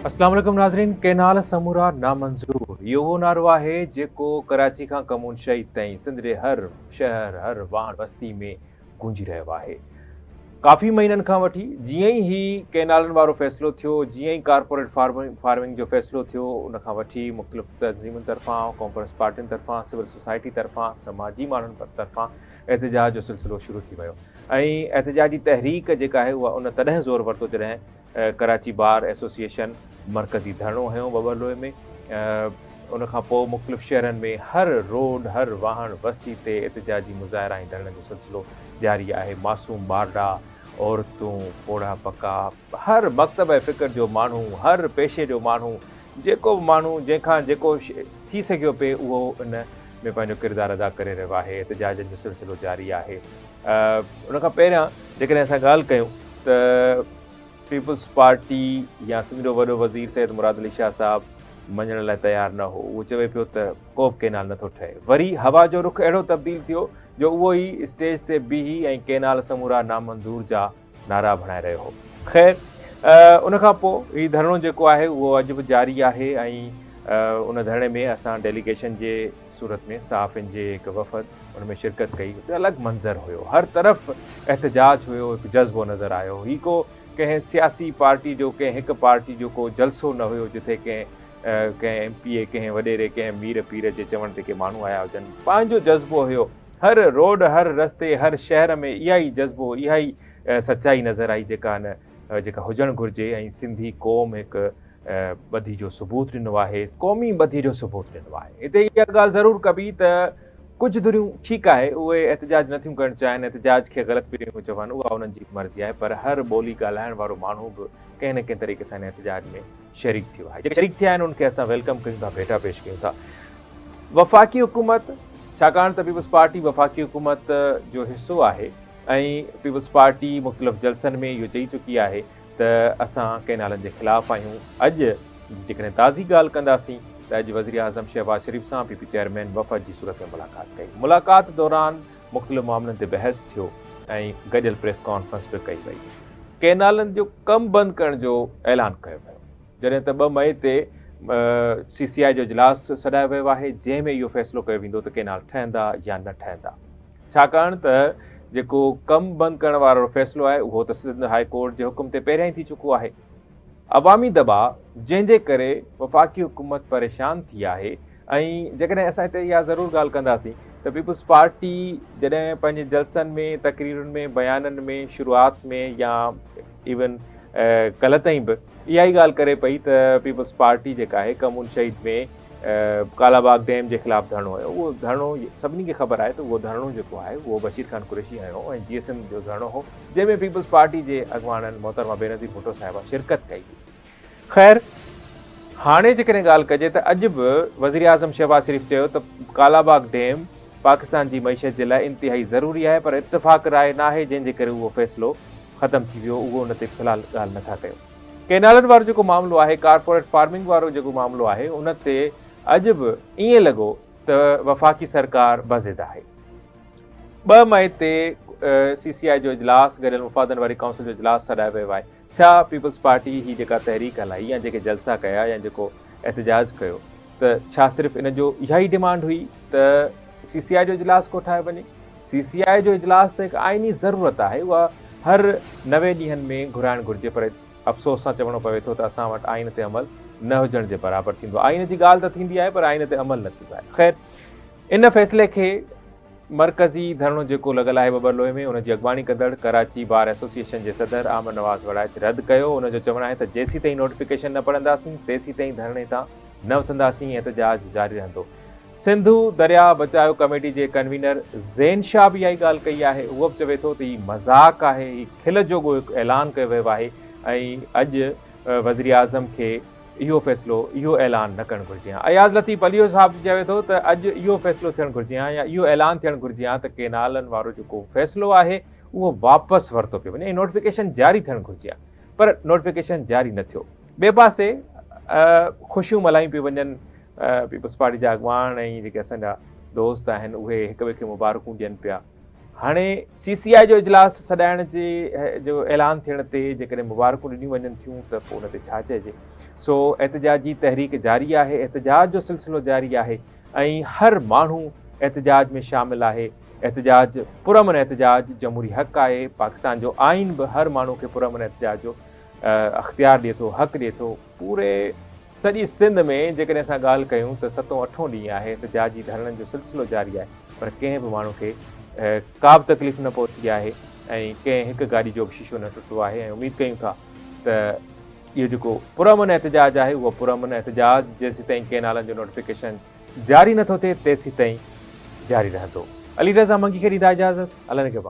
اسلام عليڪم ناظرين ڪينال سمورا نامنظور اهو اهو نعرو آهي جيڪو ڪراچي کان ڪمون شهيد تائين سنڌ جي هر شهر هر واڻ وستي ۾ گونجي رهيو آهي ڪافي مهينن کان وٺي جيئن ئي هي ڪئنالن وارو فيصلو ٿيو، جيئن ئي ڪارپوريٽ فارمنگ جو فيصلو ٿيو، ان کان وٺي مختلف تنظيمن طرفان، قومپرست پارٽين طرفان، سول سوسائٽي طرفان، سماجي ماڻهن طرفان احتجاج جو سلسلو شروع ٿي ويو ۽ احتجاجي تحريڪ جيڪا آهي اها ان تڏهن زور ورتو جڏهن ڪراچي بار ايسوسيئيشن مرڪزي ڌرڻو هنيو وٻهلوئي ۾ ان کان پوء مختلف شهرن ۾ هر روڊ هر واهڻ وستي تي احتجاجي مظاهرا ۽ ڌرڻن جو سلسلو جاري آهي معصوم ٻارڙا عورتون پوڙها پڪا هر مڪتب ۽ فڪر جو ماڻهو هر پيشي جو ماڻهو جيڪو به ماڻهو جنهن کان جيڪو ٿي سگهيو پئي اهو ان ۾ پنهنجو ڪردار ادا ڪري رهيو آهي احتجاجن جو سلسلو جاري آهي. ان کان پهريان جيڪڏهن اسان ڳالهه ڪيون ته پيپلز پارٽي يا سنڌ جو وڏو وزير سيد مراد علي شاهه صاحب مڃڻ لاء تيار نه هو اهو چوي پيو ته ڪو به ڪينال نٿو ٺهي وري هوا جو رخ اهڙو تبديل ٿيو جو اهو ئي اسٽيج تي بيهي ۽ ڪينال سمورا نامنظور جا نعرا ڀڻائي رهيو هو. خير ان کان پوء هي ڌرڻو جيڪو آهي اهو اڄ به جاري آهي ۽ ان ڌرڻي ۾ اسان ڊيليگيشن جي صورت ۾ صحافين جي هڪ وفد ان ۾ شرڪت ڪئي اتي الڳ منظر هيو هر طرف احتجاج هيو هڪ جذبو نظر آيو هي ڪو ڪنهن سياسي پارٽي جو ڪنهن هڪ پارٽي جو ڪو جلسو نه هيو جتي ڪنهن ڪنهن ايم پي اي ڪنهن وڏيري ڪنهن مير پير جي چوڻ تي ڪي ماڻهو آيا هجن پنهنجو جذبو هيو هر روڊ، هر رستي، هر شهر ۾ اها ئي جذبو، اها ئي سچائي نظر آئي جيڪا ان جيڪا هجڻ گهرجي ۽ سنڌي قوم هڪ ٻڌي جو ثبوت ڏنو آهي. قومي ٻڌي جو ثبوت ڏنو آهي. هتي اها ڳالهه ضرور ڪبي ته ڪجهه ڌريون ٺيڪ آهي اهي احتجاج نٿيون ڪرڻ چاهين، احتجاج کي غلط پيون چون اها انهن جي مرضي آهي پر هر ٻولي ڳالهائڻ وارو ماڻهو به ڪنهن نه ڪنهن طريقي سان ان احتجاج ۾ شريڪ ٿيو آهي جيڪي شريڪ ٿيا آهن ان کي اسان ويلڪم ڪيون ٿا ڀيٽا پيش ڪيون ٿا وفاقي حڪومت ڇاڪاڻ ته پيپلز پارٽي وفاقي حڪومت جو حصو آهي ۽ پيپلز پارٽي مختلف جلسن ۾ اهو چئي چڪي آهي ته اسان ڪينالن جي خلاف آهيون اڄ جيڪڏهن تازي ڳالهه ڪنداسين ته اڄ وزيراعظم شهباز شريف سان پي پي چيئرمين وفد جي صورت ۾ ملاقات ڪئي ملاقات دوران مختلف معاملن تي بحث ٿيو ۽ گڏيل پريس ڪانفرنس به ڪئي وئي. ڪئنالن جو ڪم بند ڪرڻ جو اعلان ڪيو ويو جڏهن ته ٻه مئي تي سي سي آء جو اجلاس سڏايو ويو آهي جنهن ۾ اهو فيصلو ڪيو ويندو ته ڪئنال ٺهندا يا نه ٺهندا ڇاڪاڻ ته جيڪو ڪم بند ڪرڻ وارو فيصلو آهي اهو ته سنڌ هاء ڪورٽ جي حڪم تي پهريان ئي ٿي چڪو آهي. عوامي دٻاء جنهن جي ڪري وفاقي حڪومت پريشان ٿي آهي ۽ جيڪڏهن اسان هتي اها ضرور ڳالهه ڪنداسين ته پيپلز پارٽي جڏهن پنهنجي جلسن ۾ تقريرن ۾ بيانن ۾ شروعات ۾ يا ايون ڪلهه تائين به اها ئي ڳالهه ڪري پئي ته پيپلز پارٽي جيڪا آهي ڪمون شهيد ۾ ڪالا باغ ڊيم جي خلاف ڌرڻو هنيو اهو ڌرڻو سڀني کي خبر آهي ته اهو ڌرڻو جيڪو آهي اهو بشير خان قريشي هنيو ۽ جي ايس ايم جو ڌرڻو هو جنهن ۾ پيپلز پارٽي جي اڳواڻن محترمه بينظير ڀٽو صاحبه شرڪت ڪئي هئي. خير هاڻي جيڪڏهن ڳالهه ڪجي ته اڄ به وزيراعظم شهباز شريف چيو ته ڪالاباغ ڊيم پاڪستان جي معيشت جي لاء انتهائي ضروري آهي پر اتفاق راء ناهي جنهن جي ڪري اهو فيصلو ختم ٿي ويو اهو ان تي في الحال ڳالهه نه ٿا ڪيون. ڪينالن وارو جيڪو معاملو آهي ڪارپوريٽ فارمنگ وارو جيڪو معاملو آهي ان تي اڄ به ائين لڳو ته وفاقي سرڪار بضد آهي. ٻه مئي تي سي سي آء جو اجلاس گڏيل مفادن واري ڪائونسل جو اجلاس سڏايو ويو آهي ڇا پيپلز پارٽي هي جيڪا تحريڪ هلائي يا جيڪي جلسا ڪيا يا جيڪو احتجاج ڪيو ته ڇا صرف ان جو اها ئي ڊيمانڊ هئي ته سي سي آء جو اجلاس ڪوٺايو وڃي سي سي آء جو اجلاس ته هڪ آئيني ضرورت آهي اها هر نوي ڏينهن ۾ گهرائڻ گهرجي پر افسوس سان چوڻو پوي ٿو ته اسان وٽ آئين تي عمل نه هجڻ جي برابر ٿيندو آئين جي ڳالهه ته ٿيندي آهي پر آئين تي عمل نه ٿيندو آهي خير ان فيصلي کي مرڪزي ڌرڻو جيڪو لڳل آهي ٻٻرلوئي ۾ ان جي اڳواڻي ڪندڙ ڪراچي بار ايسوسيئيشن جي صدر احمد نواز وڙائچ رد ڪيو ان جو چوڻ آهي ته جيسيتائين نوٽيفڪيشن نه پڙهنداسين تيسيتائين ڌرڻي تان نه اٿنداسين احتجاج جاري رهندو سنڌو درياء بچايو ڪميٽي جي ڪنوينر زين شاهه به اها ئي ڳالهه ڪئي آهي هو به چوي ٿو ته هي مذاق آهي هي کل جوڳو هڪ اعلان ڪيو ويو آهي ۽ اڄ وزيراعظم کي اهو فيصلو، اهو اعلان نه ڪرڻ گهرجي ها. اياز لطيف عليو صاحب به چوي ٿو ته اڄ اهو فيصلو ٿيڻ گهرجي ها يا اهو اعلان ٿيڻ گهرجي ها ته ڪينالن وارو جيڪو فيصلو آهي اهو واپس ورتو پيو وڃي ۽ نوٽيفڪيشن جاري ٿيڻ گهرجي ها پر نوٽيفڪيشن جاري نه ٿيو. ٻئي پاسي خوشيون ملهايون پيون وڃن، پيپلز پارٽي جا اڳواڻ ۽ جيڪي اسان جا دوست آهن اهي هڪ ٻئي کي مبارڪون ڏين پيا. هاڻي سي سي آء جو اجلاس سڏائڻ جي جو اعلان ٿيڻ تي جيڪڏهن مبارڪون ڏنيون وڃن ٿيون ته پوء ان تي ڇا چئجي. سو احتجاجي تحريڪ جاري آهي، احتجاج جو سلسلو جاري آهي ۽ هر ماڻهو احتجاج ۾ شامل آهي. احتجاج پرامن احتجاج جمهوري حق آهي، پاڪستان جو آئين به هر ماڻهو کي پرامن احتجاج جو اختيار ڏئي ٿو، حق ڏئي ٿو. پوري سڄي سنڌ ۾ جيڪڏهن اسان ڳالهه ڪيون ته ستون اٺون ڏينهن آهي احتجاج جي ڌرڻن جو سلسلو جاري آهي پر ڪنهن به ماڻهو کي ڪابه تڪليف نه پهتي آهي ۽ ڪنهن هڪ گاڏي جو به شيشو نه ٽٽو آهي ۽ اميد ڪيون ٿا ته اهو جيڪو پرامن احتجاج آهي اهو پرامن احتجاج جيسيتائين ڪينالن جو نوٽيفڪيشن جاري نٿو ٿئي تيسيتائين جاري رهندو. علي رضا منگي کي ڏيندا اجازت، الله نگهبان.